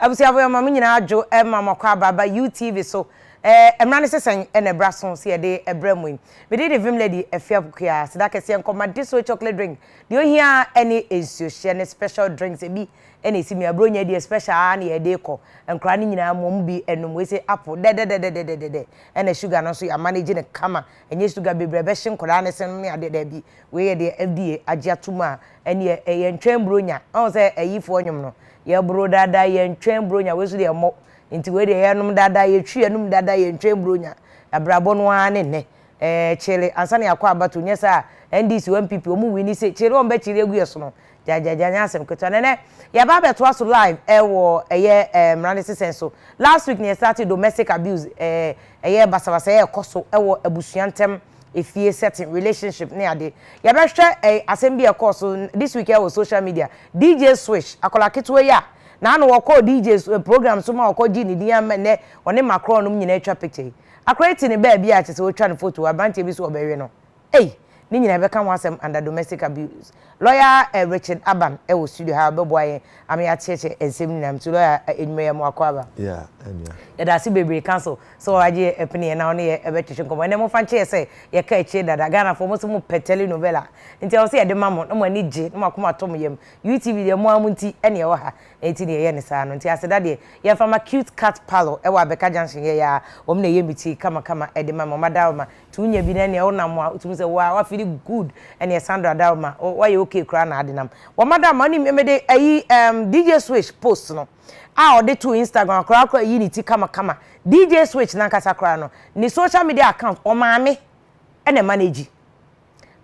Abusuafo yɛ ma mo nyinaa adwo ma mo akɔ aba aba UTV so eh mmra ne sesɛn na ɛbra so sɛ yɛde ɛbrɛ mo yi me din de Vim Lady Afia Pokua seda kɛseɛ nkɔ ma Diso chocolate drink deɛ ohia ara ne nsuo hyɛ ne special drinks ebi na esi me aburo nya deɛ special ara na yɛde kɔ nkoraa no nyinaa mo ɔmo bi nom wei se apple dɛdɛdɛdɛdɛdɛdɛ ɛna sugar no nso yɛ amanage no kama Ɛnyɛ sugar bebree a ɛbɛhye nkwadaa no senom ne adeɛ, daabi. Wei yɛ deɛ FDA agye ato mu a ɛnneɛ ɛyɛ ntwɛn buronya. Woahu sɛ ayifoɔ nnwom no, yɛboro dada, yɛntwɛn buronya, wei nso deɛ ɛmmɔ. Nti wei deɛ yɛnom dada, yɛtwi yɛn anom dada, yɛntwɛn buronya. Abrabɔ no ara ne nnɛ. Ɛɛ, kyele ansa na yɛakɔ abatoɔ, nyɛ saa a, NDC o, NPP o, wɔn wini se, kyele a wɔbɛkyele agu yɛn sono, gyagyagya nyɛ asɛm ketewa na ɛnɛ yɛaba abɛtoa so live ɛwɔ ɛyɛ ɛɛ mmara ne sesɛn so last week na yɛ start domestic abuse ɛɛ ɛyɛ basabasa yɛ ɛkɔ so ɛwɔ abusua ntɛm efie setting relationship ne ade yɛbɛhwɛ ɛɛ asɛm bi ɛkɔɔ so this week ɛwɔ social media dj swish akɔla ketewa yi a na ano wɔkɔɔ dj eh, program so ma wɔkɔ gye ne din ama nnɛ ɔne makorɔ nom nyinaa atwa picture yi akora yi te ne baabi a kyɛ sɛ wɔtwa ne photo aberanteɛ bi so ɔbɛwe no Ei! Ne nyinaa yɛbɛka ho asɛm under domestic abuse. Lawyer eh Richard Aban wɔ studio ha a ɔbɛboa yɛn ama yɛakyerɛkyerɛ nsɛm no nyinaa mu. So lawyer eh Edwuma Yamu Akwaaba. Yeah ɛnua. Yɛda ase bebree counsel sɛ wagye yɛ ɛpene yɛn na ɔne yɛ ɛbɛtwetwe nkɔmmɔ. Ɛnɛ momfa nkyɛ yɛ sɛ yɛka akyire dada. Ghanafoɔ mo se mo pɛ tele novella nti ɛwɔ sɛ yɛde ma mo na mo ani gye na mo akoma tɔ mo yam. UTV deɛ mo ara mo nti ɛne ɛwɔ ha na ɛnti na yɛyɛ no saa no. Nti Aseda deɛ yɛmfa ma Cute Cat Parlour ɛwɔ Abɛka Junction yɛyɛ a wɔn na ɛyɛ me ti kama kama ɛde ma me. Wɔn adawoma nti wonya bi na ɛneɛ wonam a wotumi sɛ woaa wa feeli good ɛneɛ Sandra da ma wo wayɛ okay koraa na ade nam wɔ madam ma wonim mede ayi ɛɛm DJ Switch post no a ɔde too Instagram koraa koraa ayi ne ti kama kama DJ Switch nankasa koraa no ne social media account ɔmaame ɛna ɛmanage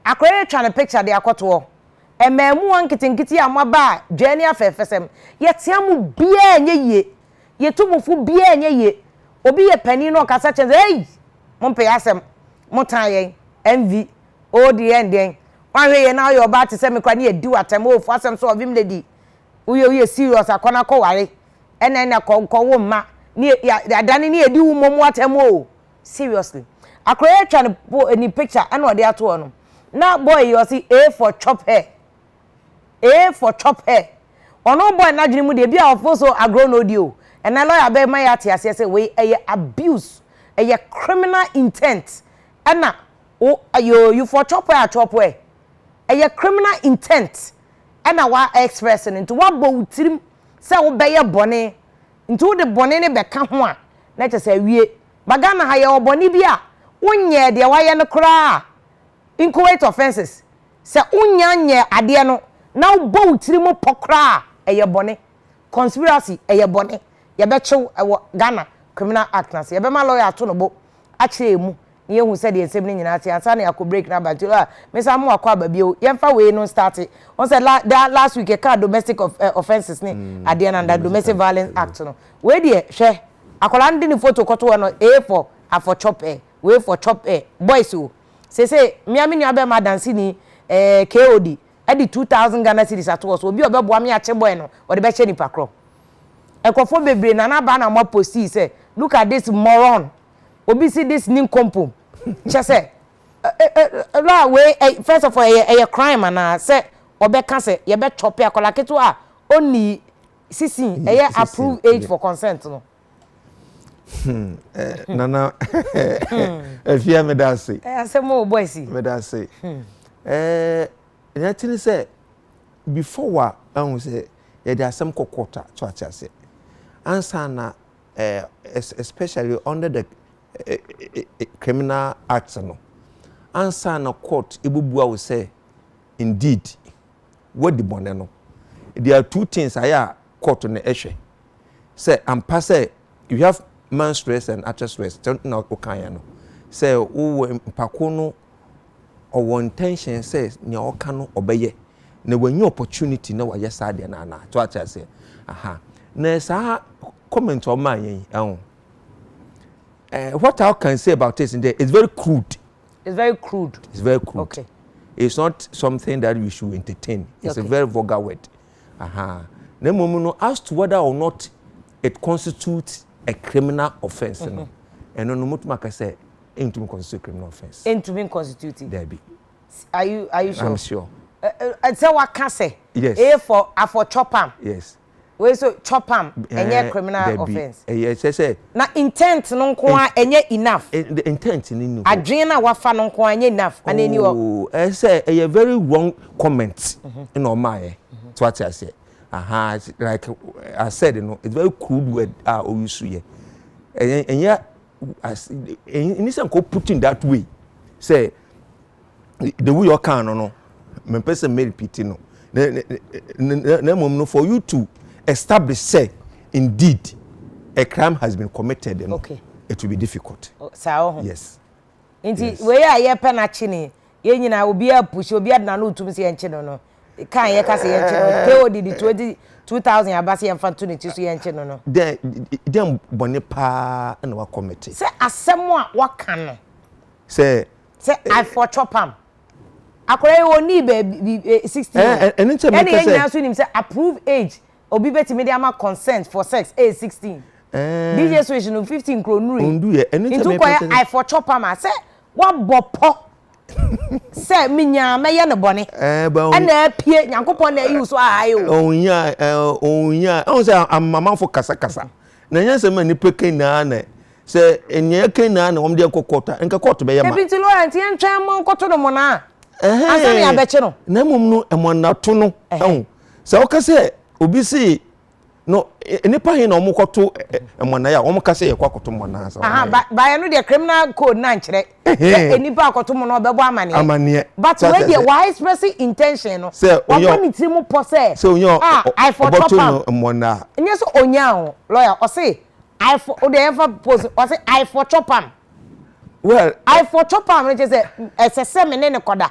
akoraa yi atwa ne picture de akɔtoɔ ɛmaamuwa nketenkete a moaba a dwaa ni afɛɛfɛsɛm yɛtea mo biaa nyɛ yie. Yɛtu bo fo biara nyɛ yie. Obi yɛ panin na ɔkasa kyerɛ no sɛ, Ei! Mompɛ yɛn asɛm. Motan yɛn. MV, Oh deɛ yɛn deɛn? Woanhwɛ yie na woyɛ ɔbaa te sɛ me koraa na yɛadi wo atɛm. Oh fo asɛm so ɔvem lady. Woyɛ woyɛ serious a, kɔ na kɔware. Ɛnna ɛnna kɔ nkɔwo mma. Ne yɛ adane ne yɛadi wo mmom atɛm o. Seriously. Akwadaa yi atwa ne po ne picture ɛnna ɔde ato hɔ no, na boy yi ɔse A for chop her. ee for chop her ɔno bɔy no adwene mu deɛ ebi a ɔfo so agorɔ na odi o ɛnɛ lawyer bɛma yɛ ate aseɛ sɛ wei ɛyɛ abuse ɛyɛ criminal intent ɛna wo yoo you for chop her a chop her ɛyɛ criminal intent ɛna wa express no nti wabɔ wo tirim sɛ wobɛyɛ bɔne nti wode bɔne no bɛka ho a na kyɛ sɛ awie ba Ghana ha yɛwɔ bɔne bi a wonyɛɛ deɛ wayɛ no koraa a inchoate offences Sɛ wonnya nyɛɛ adeɛ no na wobɔ wo tiri mu pɔ koraa a, ɛyɛ bɔne. Conspiracy, ɛyɛ bɔne. Yɛbɛkye wo wɔ Ghana Criminal Act no ase. Yɛbɛma lɔya ato no bo akyerɛ yɛn mu na yɛahu sɛdeɛ nsɛm no nyinaa te ansa na yɛakɔ break no aba. Nti, ah, mensan mo akɔ aba bio. Yɛmfa wei no nstarte. Wohu sɛ la, daa last week yɛkaa domestic of, eh, offences ne adeɛ no under Domestic Domestic Violence Violence, Act no. Wei deɛ, hwɛ, akwadaa no de ne photo kɔto hɔ no, A for afɔtwɔpɛ, wei for twɔpɛ, boys o. Seesei me ara me nua bɛrima adanseni eh, KOD, ɛde 2000 Ghana cedis ato hɔ so, obi a ɔbɛboa me akye boy no, ɔde bɛhyɛ nipa korɔ. Nkurɔfoɔ bebree, Nana Aba na wɔn apostii sɛ, look at this moron, obi se this ninkompom, kyɛ sɛ, eh, eh, eh, la, wei, eh, first of all, ɛyɛ, ɛyɛ crime anaa, sɛ ɔbɛka sɛ yɛbɛ chɔpe akwadaa ketewa a ɔnnii 16, ɛyɛ approved age for consent no. Hmm, eh, hmm. nana efia eh, meda ase eh, asɛm o boys meda ase hmm. eh, ɛna tiri sɛ before wa ahu sɛ yɛde asɛm kɔkɔ ta to ate ase ansa na eh, especially under the eh, eh, eh, criminal act no ansa na court ebubua wo sɛ indeed wadi bɔnɛ no there are two things ayɛ a court no ɛhwɛ. sɛ ampa sɛ you have man stress and akyɛ stress sɛ na wokaeɛ no sɛ wowɔ mpako no ɔwɔ intention sɛ nea ɔka no ɔbɛyɛ na wɔnyɛ opportunity na wɔayɛ saa deɛ na anaa to akyɛ aseɛ aha na saa comment ɔma yɛn yi ɛho eh, what I can say about this is that it's very crude it's very crude it's very crude okay. it's not something that we should entertain it's okay. a very vulgar word Ahaa. Na mmom no, as to whether or not it constitutes a criminal offence no, ɛno no, motumi aka sɛ ɛntumi constitute a criminal offence. Ɛntumi nconstitute? Daabi. Are you, are you sure? I'm sure. Sɛ waka sɛ, yes. A for, a for chopam. Yes. Wei so chopam, ɛnyɛ criminal Daabi. offence. Ɛyɛ sɛ sɛ. Na intent no nko a ɛnyɛ enough. Intent no ni hɔ. Adwene no a wafa no nko a ɛnyɛ enough. Ana ɛni hɔ? Oh, ɛsɛ ɛyɛ very wrong. comment na ɔmaa yɛ so ate aseɛ aha like I said no it's very crude word a oyi so yɛ ɛyɛ ɛnyɛ as ɛni sɛ nko put in that way sɛ the way ɔkan no no mɛ mpɛ sɛ mɛ repeat no na na na na mmom no for you to establish sɛ indeed a crime has been committed no okay. it will be difficult. Oh, yes. nti wei a yɛpɛ no akye ne yɛn nyinaa obi apusi obi adena no otum sɛ yɛnkye no no kan yɛka sɛ yɛnkye no KOD de 20 2000 aba sɛ yɛmfa to ne ti so yɛnkye no no dɛn dɛn bɔne paa na wakɔmete sɛ asɛm a waka no sɛ sɛ afɔtwɔ pam akwadaa yi wɔnii baabi 16 o ɛne yɛn nyinaa nso nim sɛ approve age Obi betumi de ama consent for sex age sixteen. Di Yesu akyi no fifteen kura onuru yi. Nti wokɔyɛ I for chop ama sɛ woabɔ pɔ sɛ menya mɛyɛ no bɔne ɛna apue Nyankopɔn na ayi wo so ahae o. Ɔnhia ɔnhia ɔn sɛ amamanfo kasakasa na ɛnyɛ nsɛm a nnipa ka nyinaa na sɛ nea ɛka nyinaa na wɔn de ɛkɔ court a nka court bɛyɛ ma. Ebi nti lawyer nti yɛntwɛn mmɔ nkɔto no mona ansa na yɛabɛkye no. Na mmom no mmɔnato no ɛho sɛ ɔka sɛ obi see no nnipa he na wɔn kɔto mmɔnaa a wɔn ka sɛ yɛkɔ akɔto mmɔnaa sɛ wɔn ayɛ. baayɛ no deɛ criminal code na nkyerɛ sɛ nnipa akɔto mmɔnaa ɔbɛbɔ amaneɛ amaneɛ but wei deɛ wa express intention no sɛ ɔbɔ ne tiri mu pɔ sɛ sɛ onye ah i for top am no mmɔnaa nyɛ sɛ onye aho lawyer ɔse i for o deɛ yɛmfa post ɔse i for top am well i for top am no kyerɛ sɛ ɛsɛ sɛ me ne ne kɔda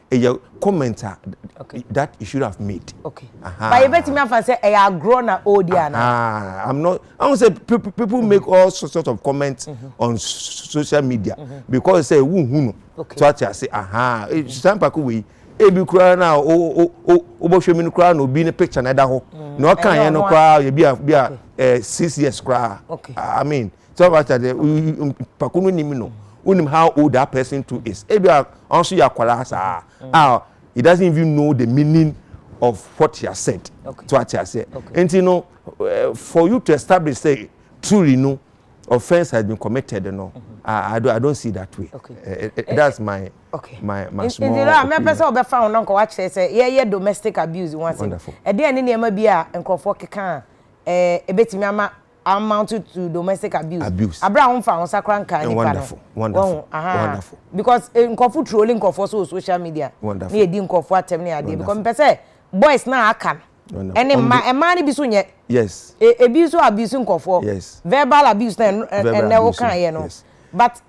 ɛyɛ comment a that you should have made. okay but yɛbɛtumi afa sɛ ɛyɛ agorɔ na ɔredi anaa. i'm not i wan say people people make all sorts of comments mm -hmm. on social media mm -hmm. because say who who no okay. to ati ase aha mm -hmm. sisan pako wei ebi koraa na o o o o bɔ hwɛ mi no koraa na obi ne picture na ɛda hɔ na ɔka yɛn no koraa yɛ bi a bi a ɛɛ six years koraa i mean. Sɛ wata dɛ nyimpa ko no nim no, wonim how old that person too is. Ebi a ɔno so yɛ akwadaa saa a he doesn't even know the meaning of what he has said. So ate aseɛ. Nti no for you to establish say truly no offence has been committed no I, I, don't, I don't see that way. Okay. Uh, uh, that's my okay. my my small. Nti no a mɛpɛ sɛ ɔbɛfa ho na nkɔwa kyerɛ sɛ yɛyɛ domestic abuse ho asɛm. Ɛdeɛ ne nneɛma bi a nkurɔfoɔ keka a ɛbɛtumi ama amount to domestic abuse. abuse. Abira ho nfa ho sakra nkan nipa no. Wonderful, wonderful, wonderful. Because eh, nkurɔfo trolling nkurɔfo so social media. Wonderful. Ne yɛ di nkurɔfo atɛm ne adeɛ. Because mpɛ sɛ boys na aka no. Ɛne mma ɛmaa no bi so nyɛ. Yes. E, ebi so abuse nkurɔfo. Yes. Verbal abuse na ɛnɛ wo kan yɛ no. Yes. But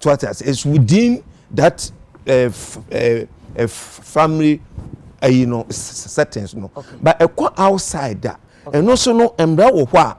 So wate ase? It's within that family ayi no settings no. But ɛkɔ outside a, ɛno so no mmara wɔ hɔ a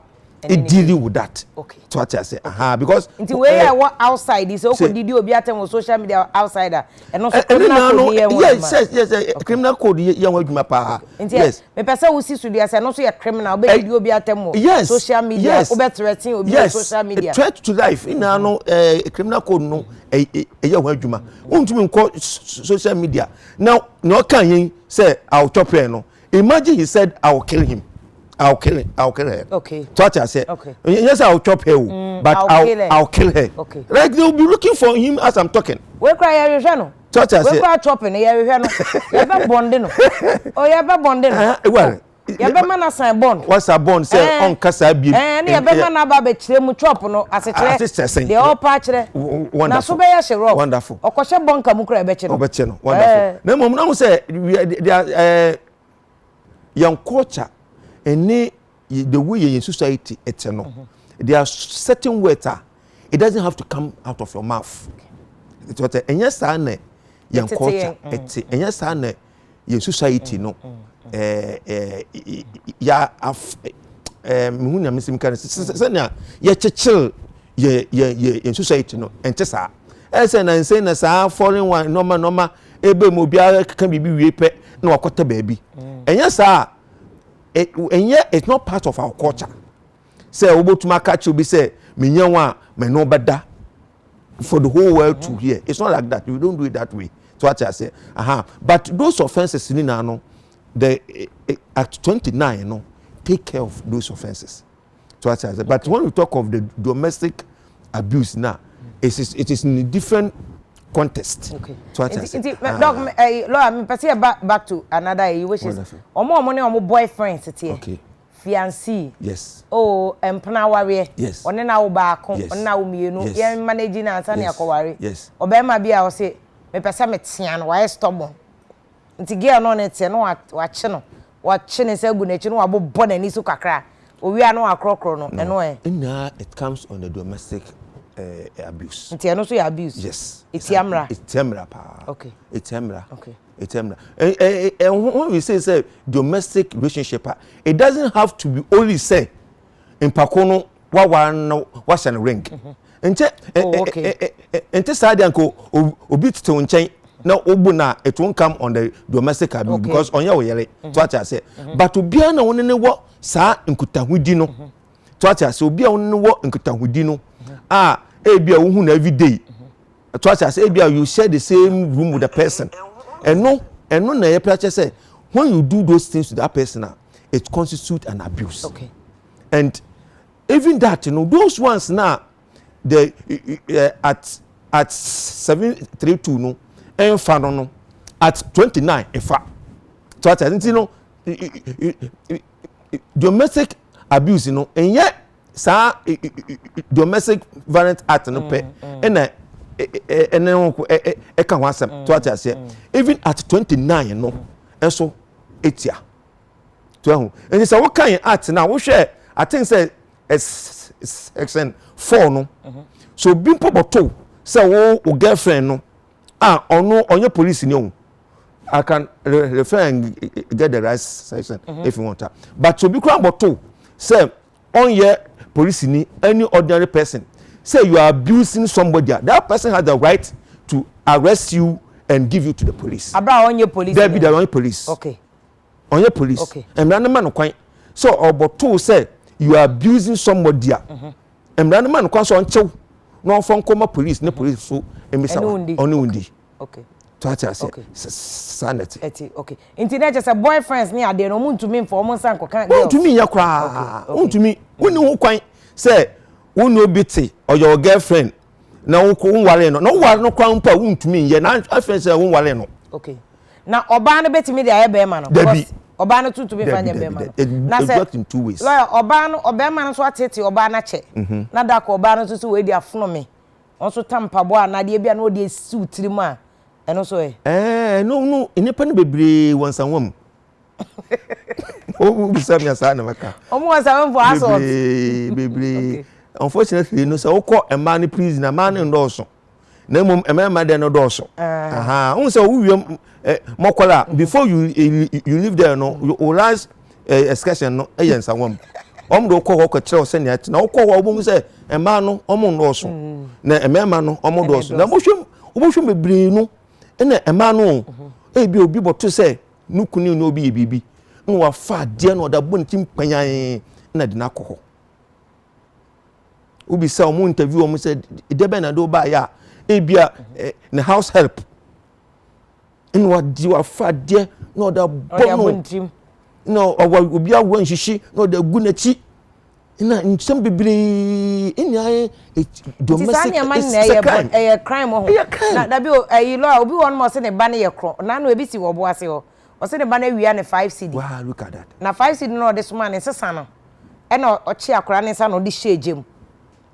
ediri wo that. So wate ase? Aha because. Nti wei yɛ ɛwɔ outside sɛ okɔ didi obi atɛm wɔ social media outside a, ɛno so criminal code yɛ ho adwuma. Yes yes yes criminal code yɛ ho adwuma paa. Nti Mepɛ sɛ wosi so dua sɛ ɛno nso yɛ criminal, wobɛdidi obi atɛm wɔ yes, social media, yes, wobɛ threaten obi yes, wɔ social media. threat to life nyinaa no ɛɛ eh, criminal code no ɛyɛ eh, eh, ho adwuma. Wontumi nkɔ social media na na ɔka yɛn sɛ I will chop her no. Imagine he said I will kill him. I will kill him. I will kill her. Okay. So what I said. Okay. Yes, I will chop her, mm, but I will, I will kill her. Okay. Like they will be looking for him as I'm talking. Where cry you, Jano? so ɔte aseɛ wekura tɔpi no yɛhwehwɛ no yɛbɛ bɔnde no o oh, yɛbɛ bɔnde no ah, oh, yɛbɛ ma na san bɔnd wasa bɔnd sɛ eh. ɔnka saa bie ɛɛ ne yɛbɛ ma na aba abɛkyerɛ mu chop no asekyerɛ deɛ ɔpa akyerɛ na so bɛyɛ hyɛ rɔ ɔkɔhyɛ bɔnka mu kura ɛbɛkyɛ no ɔbɛkyɛ no wonderful eh. na mmom na ho sɛ eh, yɛn culture ɛne the way yɛn society ɛte no mm-hmm. there are certain words a it doesn't have to come out of your mouth ɛti ɔtɛ ɛnyɛ saa na yɛn culture mm. ɛte ɛnyɛ saa na yɛn society no ɛɛ ɛɛ yɛ af ɛɛ mihu nea mi si mi ka no sɛnea yɛkyekyere yɛ yɛ yɛ yɛn society no ɛnte saa ɛsɛ na nsɛn na saa foreign one nɔɔma nɔɔma ebe mu obiara keka biribi wie pɛ na wakɔtɛ baabi mm. ɛnyɛ saa ɛnyɛ eh, it's not part of our culture sɛ wobɛtumi aka kyerɛ obi sɛ menyɛ ho a me ne wobɛda for the whole world to hear it's not like that we don't do it that way so ate aseɛ aha but those offences ni na no the eh, eh, act twenty nine no take care of those offences. so ate ase but when we talk of the domestic abuse na it is it is in a different context okay. so ate ase. nti ah. dɔk ɛyi eh, lɔya mi pɛsɛ yɛ back back to another ɛyi which is ɔmo ɔmo ne ɔmo boyfriend teteɛ. okay fiancé yes oh mpena awareɛ yes ɔne na wo baako yes ɔne na wo mmienu yes yɛn manage na ansa ne akɔware yes ɔbɛrima bi a ɔse mepɛ sɛ metea no wayɛ stubborn Nti girl no ɔne teɛ na wakye no wakye ne nsa agu n'akyi na wabobɔ n'ani so kakra owie a na wakorɔkorɔ no ɛno ɛ. No nyinaa it comes on the domestic eh, abuse. Nti ɛno nso yɛ abuse? Yes. Etia mmara? Etia mmara paa. Okay. Etia mmara. Okay. Etia mmara. Ɛho we say sɛ domestic relationship a it doesn't have to be only sɛ. mpako no wawa na wahyɛ no ring mhm. nkyɛ oh, nte saa deɛ nka obi tetew nkyɛn na obu na it won't come on the domestic abuse okay. because ɔnyɛ wo yere mhm. to ate ase mhm. but obiara na wɔne ne wɔ saa nkutahodi no to ate ase obi a wɔne ne wɔ nkutahodi no a ebi a wohu na everyday to ate ase ebi a you share the same room with the person ɛno ɛno na yɛ pɛ akyɛ sɛ when you do those things to that person a. it constitute an abuse okay. and even that you know those ones na the uh, at at seven three two no ɛnfa no no at twenty nine ɛfa so ati ati no domestic abuse no ɛnyɛ saa domestic violent act no pɛ ɛna ɛne ho ɛka ho asɛm so ati aseɛ even at twenty nine no ɛso. Mm. etua to ahu nti sɛ woka yɛn act no a wohwɛ i think sɛ section four no mhm. so obi mpo bɔto sɛ wo wo girlfriend no a ɔno ɔnyɛ police ni o i can refer and get the right section mhm. if you want to but obi kura bɔto sɛ ɔnyɛ polisini ɛne ordinary person sɛ you are abusing somebody a that person has the right to arrest you and give you to the police. Abira ɔnyɛ police. Dabi dabi ɔnyɛ police. Okay. Ɔnyɛ police. Okay. Mmara no ma no kwan sɛ ɔbɔtoo sɛ you are abusing somebody a. Mhm. Mmara no ma no kwan sɛ ɔnkyew na ɔmfa nkɔma police ne police so mmisa ɔne wundi. okay to ate ase saa na ɛte ɛte okay nti na ɛkyɛ sɛ boyfriends ne adeɛ no wɔn ntumi nfa wɔn nsa nkɔka girls ntumi nyɛ koraa ntumi wɔn ni ho kwan sɛ wɔn ni obi te ɔyɛ ɔ girlfriend na wɔn kɔ wɔn ware no na wɔn ware no kwan mpo a wɔn ntumi nyɛ na afɛn sɛ wɔn ware no. okay na ɔbaa no betumi de ayɛ bɛrima no. dabi ɔbaa no tuntun mi fa nyɛ bɛrima no na sɛ lɔya ɔbaa no ɔbɛrima no nso atete ɔbaa no akyɛ mhm. na dako ɔbaa no nso so wɔadi afono mi Wɔn nso ta mpaboa anaa adeɛ bi a na wɔde asi wo tirim a, ɛno nso ɛ? Ɛɛ, no, no, nnipa no bebree wɔ nsawa mu. Wobisa me a, saa na mɛka. Wɔn wɔ nsawa mu for assault. Bebree, bebree. Okay. Unfortunately, no sɛ wokɔ mmaa no prison a, mmaa no nnɔɔso. Na mmom mmarima deɛ no dɔɔso. Ah. Aha, wohu sɛ wowie mmɔkɔla a, before you, you, you leave there no, you, you realize ɛɛ excursion no yɛ nsawa mu wɔn de wokɔ hɔ kɔkyerɛ wo sɛnea ɛte na wokɔ hɔ a wobɛhu sɛ mmaa no wɔn nnɔɔso mm. na mmarima no wɔn nnɔɔso na wohwɛ wohwɛ bebree no ɛna mmaa no mhm. ebi obi bɔto sɛ ne kunu ne obi yɛ biribi na wafa adeɛ na ɔde abɔ ne ti mpanyan na de no akɔ hɔ wobi sɛ wɔn interview wɔn sɛ deɛ bɛn na de wo baayɛ a ebi a eh, ne house help ɛna wadi w'afadeɛ na ɔde abɔ no na ɔwɔ obi awa nhyehye na ɔde agu n'akyi na nsɛm bebree ɛna ayɛ e, domestic ɛsɛ crime ɛyɛ crime ho ɛyɛ crime na dabi o ɛyi lɔ a obi wɔ ɔnom ɔsɛ ne ba ne yɛ korɔ na no ebi si wɔ ɔbo ase hɔ ɔsɛ ne ba no awia ne five cd wow look at that na five cd na ɔde soma ne nsesa no ɛna ɔkye akora ne nsa na ɔde hyɛ egya mu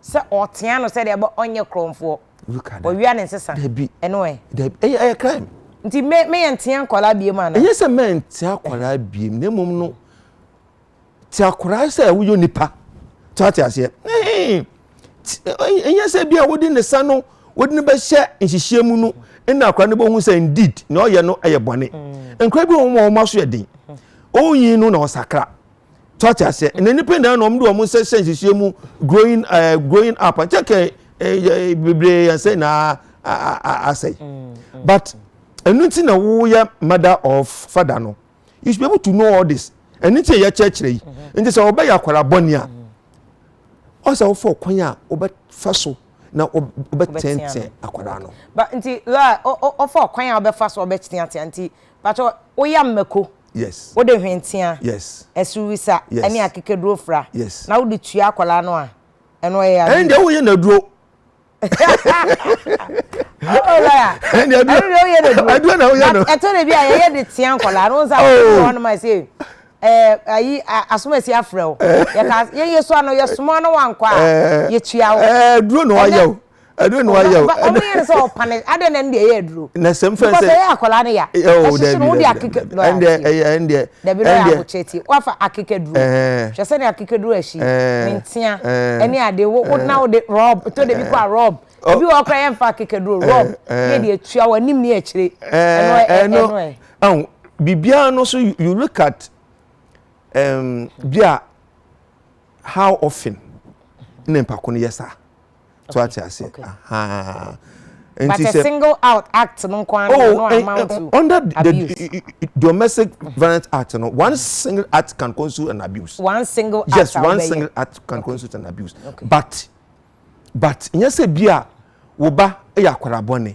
Sɛ ɔɔtea no sɛdeɛ ɛbɛ ɔnyɛ krɔnfoɔ. Look at that. Ɔwia ne nsesa. Dabi. Ɛno ɛ. Dabi. Ɛyɛ ɛyɛ crime. Nti me me yɛ ntea nkwadaa biem anaa? Ɛnyɛ sɛ mɛ ntea akwadaa biem na mmom no te akwadaa sɛ woyɛ nipa. Te ate aseɛ. Ɛnyɛ sɛ bi a wode ne sa no wode ne bɛhyɛ nhyehyeɛ mu no ɛna akwadaa no bɛhu sɛ indeed na ɔyɛ no ɛyɛ bɔne. Nkwadaa bi wɔn wɔn aso yɛ den. Ɔnyi no na ɔsakra. so ate aseɛ na nipa nyinaa na wɔn de wɔn nsa hyɛ nhyehyɛ mu growing ɛɛ eh, growing up nkyɛn kɛ ɛɛ eh, eh, bebree yɛn sɛ na asɛe mm, mm. but ɛnu ti na woyɛ mother or father no you should be able to know all this ɛnu ti yɛ kyerɛkyerɛ yi mm-hmm. nti sɛ ɔbɛyɛ akwara bɔnni a mm-hmm. ɔsɛ ɔfɔ kwan a ɔbɛfa so na ɔbɛtɛntɛn akwara no. ba nti lɔɔre ɔfɔ kwan a ɔbɛfa so ɔbɛtɛntɛn nti pàtó ɔyɛ mmako. Yes. Wode hwenteaa, Yes. asuwisa Yes. ne akekaduro fra Yes. na wode tua akwadaa no a, ɛno ɛyɛ abuse. Ɛndeɛ woyɛ naduro. Oh, lawyer. Ɛndeɛ aduro. Ɛno deɛ woyɛ naduro. Aduro na woyɛ no. Na ɛtɔ da bi a yɛyɛ de tea nkwadaa no, wo nsa Oh. afɔ hɔ no ma se, ɛɛ, ayi, a- asomasi afrɛ wo. Yɛka, yɛyɛ so ano, yɛsoma no wankɔ a, Eh. yɛtua wo. Ɛɛ, aduro na Ɛnɛ- wayɛ o. aduro na wayɛ o. ɔno yɛ no sɛ ɔpane adɛ na ɛnde ɛyɛ aduro. na sɛm fɛn sɛ because ɛyɛ akwadaa no ya. ɛhyehye no wode akeka duro ayɛ akyi. ɛndeɛ dabi na yɛ abokyɛ ti wafa akeka duro. hwɛ sɛ ne akeka duro ahyi ne ntea ɛne ade wo wo na wode rɔb tɔ de bi kɔ a rɔb ebi wɔ ɔkora yɛ nfa akeka duro rɔb ne de atua wɔ anim ne akyire ɛno ɛno ɛ. ɛho biribiara no so you look at um, bi a how often na mpako no yɛ saa. so ate aseɛ ahaa nti sɛ single out act no nko ara oh, no eh, amount to eh, under abuse. the domestic violence act no one single act can constitute an abuse one single act yes one single act can constitute an abuse but but nyɛ sɛ bi a wo ba yɛ akwadaa bɔne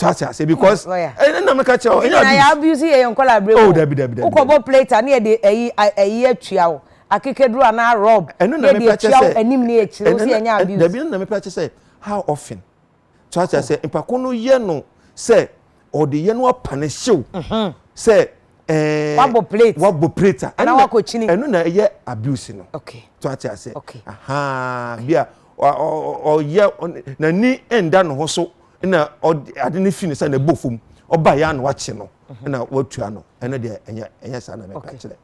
so ate ase because ɛna nam ka kyerɛ ɛna abuse ɛna abuse yɛ yɛn nkɔla abere mu o dabi dabi dabi wokɔbɔ plate a ne yɛ de ɛyi ɛyi atua o akekeduro anaa rɔb ne yɛ de atua o anim ne yɛ kyerɛ o si yɛ nyɛ abuse dabi ɛna nam ka kyerɛ sɛ how often so ate ase mpako no yɛ no sɛ ɔde yɛ no apane hyew mhm. sɛ ɛɛ wabɔ plate wabɔ plate a ɛna wakɔ kyini ɛno na ɛyɛ abuse no okay so ate ase okay ahaa bi a ɔyɛ n'ani ɛnda ne ho so. na ɔde ade no fi ne sɛ na ɛbɔ fam ɔba yɛ ano akye no mhm. na watua no ɛno deɛ ɛnyɛ ɛnyɛ saa na mɛka kyerɛ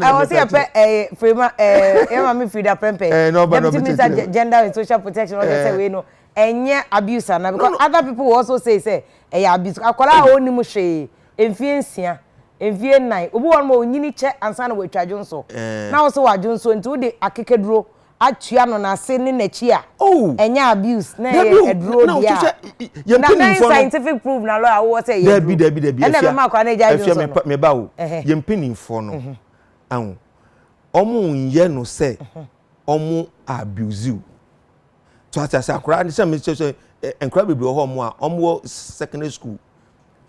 ɛwɔ sɛ yɛpɛ firima yɛma me firi da prɛmpɛ deputy minister gender and social protection ɔde sɛ wei no ɛnyɛ abuse ana because other people will also say sɛ ɛyɛ abuse akwadaa a ɔnni mu hwee mfie nsia mfie nnan obi wɔ no ma ɔnyini kyɛ ansa na wɔatwa dwonso na wɔsɛ wɔadwonso nti wode akekaduro atua no nase ne nakyi a oh ɛnyɛ abuse na ɛyɛ aduro deɛ a na dɛn scientific proof na lawyer wowɔ sɛ ɛyɛ aduro dabi dabi ɛna ɛbɛma akora no agya adwene so no meba o yɛ mpanimfoɔ no mhm. aho ɔmo nyɛ no sɛ mhm. ɔmo abuse o to ase ase akora sɛ me sɛ sɛ nkora bebree wɔ hɔ ɔmo a ɔmo wɔ secondary school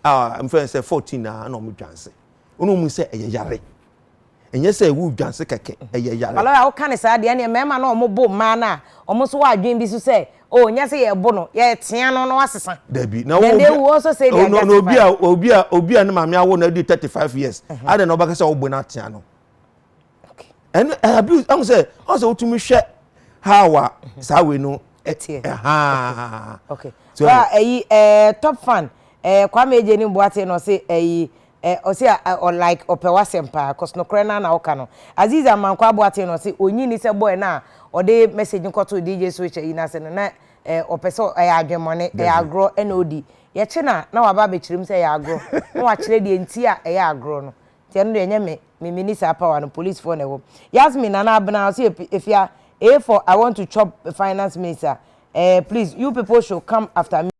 a mfɛn sɛ fourteen na ɛna ɔmo dwanse ɔno mu sɛ ɛyɛ yare. Ɛnyɛ sɛ ɛwɔ odwanse kɛkɛ, ɛyɛ yare. Baloyi a woka no saa deɛ, ɛnneɛ mmarima no a wɔbo mmaa no a, wɔn nso wɔ adwene bi nso sɛ, oh, nyɛ sɛ yɛbo no, yɛtea no na wasesa. Dabi. Na Then they will also say they are na obi a, justified. obi a, obi a ne maame awo no adi thirty five years, adɛn na wobɛka sɛ wobo no atea no? Okay. Ɛno, ɛyɛ abuse. Ɛho sɛ, ɔn sɛ wotumi hwɛ how a saa wei no, ɛ- Ɛteɛ. ɛhaa. Okay. So- Ba ɛyi ɛɛ top fan ɛɛ Kwame Ejenim Boateng na ɔse ɛyi Eh ɔse a ɔ like ɔpɛ w'asɛm paa cos nokorɛ no ara na woka no. Azeez Amankwah Aboateng na ɔse ɔnyi nni sɛ boy no a ɔde message no kɔtoo DJ Switcher yi nase no na eh ɔpɛ sɛ ɛyɛ adwemmɔne, ɛyɛ Dabi. agorɔ ɛna ɔdi. Yɛkye no a na waba abɛkyerɛ mu sɛ ɛyɛ agorɔ na wakyerɛ deɛ nti a ɛyɛ agorɔ no. Nti ɛno deɛ ɛnyɛ me, me menni saa power no, policefoɔ na ɛwɔm. Yasmin Nana Abena ɔse Ep Efya A for I want to chop finance minister eh please you people should come after me.